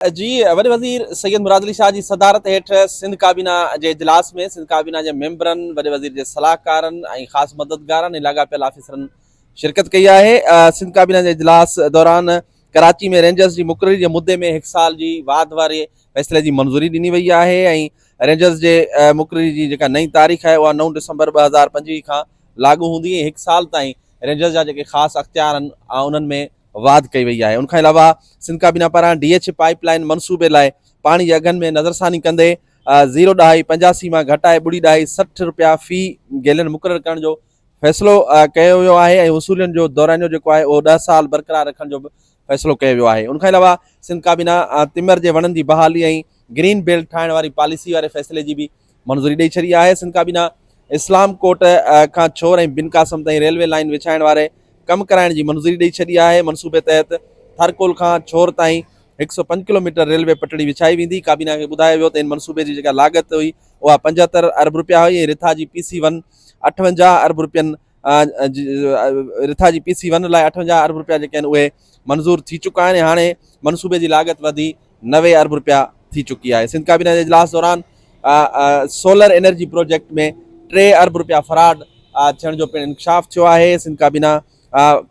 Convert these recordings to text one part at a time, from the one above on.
جي وڏي وزير سيد مراد علي شاهه جي صدارت هيٺ سنڌ ڪابينا جي اجلاس ۾ سنڌ ڪابينا جي ميمبرن، وڏي وزير جي صلاحڪارن ۽ خاص مددگارن ۽ لاڳاپيل آفيسرن شرڪت ڪئي آهي. سنڌ ڪابينا جي اجلاس دوران ڪراچي ۾ رينجرز جي مقرري جي مدي ۾ هڪ سال جي واڌ واري فيصلي جي منظوري ڏني وئي آهي ۽ رينجرز جي مقرري جي جيڪا نئين تاريخ آهي اها نو ڊسمبر ٻه هزار پنجويهه کان لاڳو هوندي ۽ هڪ سال تائين رينجرز جا جيڪي خاص اختيار آهن انهن ۾ واڌ ڪئي وئي آهي ان کان علاوه سنڌ ڪابينا پاران ڊي ايڇ پائيپ لائين منصوبي لاء پاڻي جي اگهن ۾ نظرثاني ڪندي زيرو ڏهائي پنجاسي مان گهٽائي ٻڙي ڏهائي سٺ روپيا في گيلن مقرر ڪرڻ جو فيصلو ڪيو ويو آهي ۽ وصولين جو دورانيو جيڪو آهي اهو ڏهه سال برقرار رکڻ جو به فيصلو ڪيو ويو آهي ان کان علاوه سنڌ ڪابينا تمر جي وڻن جي بحالي ۽ گرين بيلٽ ٺاهڻ واري پاليسي واري فيصلي جي به منظوري ڏئي ڇڏي آهي، سنڌ ڪابينا اسلام ڪوٽ کان ڇور ۽ بن قاسم تائين ريلوي لائين وڇائڻ واري ڪم ڪرائڻ جي منظوري ڏئي ڇڏي آهي، منصوبي تحت ٿرڪول کان ڇور تائين هڪ سؤ پنج ڪلوميٽر ريلوي پٽڙي وڇائي ويندي، ڪابينا کي ٻڌايو ويو ته ان منصوبي جي جيڪا لاڳت هئي اها پنجهتر ارب رپيا هئي ۽ رٿا جي پي سي ون اٺونجاهه ارب رپين رٿا جي پي سي ون لاء اٺونجاهه ارب روپيا جيڪي آهن اهي منظور ٿي چڪا آهن ۽ هاڻي منصوبي جي لاڳت وڌي نوي ارب روپيا ٿي چڪي آهي سنڌ ڪابينا جي اجلاس دوران سولر انرجي پروجيڪٽ ۾ ٽي ارب روپيا فراڊ ٿيڻ جو پڻ انڪشاف ٿيو آهي سنڌ ڪابينا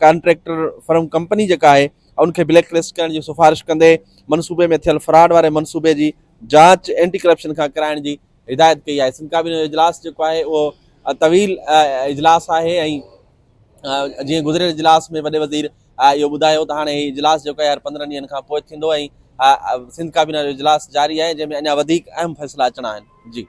ڪانٽريڪٽر فرم کمپني جيڪا آهي ان کي بليڪ لسٽ ڪرڻ جي سفارش ڪندي منصوبي ۾ ٿيل فراڊ واري منصوبي جي جاچ اينٽي ڪرپشن کان ڪرائڻ جي هدايت ڪئي آهي سنڌ ڪابينا جو اجلاس جيڪو آهي اهو طويل اجلاس آهي ۽ جيئن گذريل اجلاس ۾ وڏي وزير اهو ٻڌايو ته هاڻي هي اجلاس جيڪو آهي هر پندرهن ڏينهن کان پوء ٿيندو ۽ سنڌ ڪابينا جو اجلاس جاري آهي جنهن ۾ اڃا وڌيڪ اهم فيصلا اچڻا آهن جي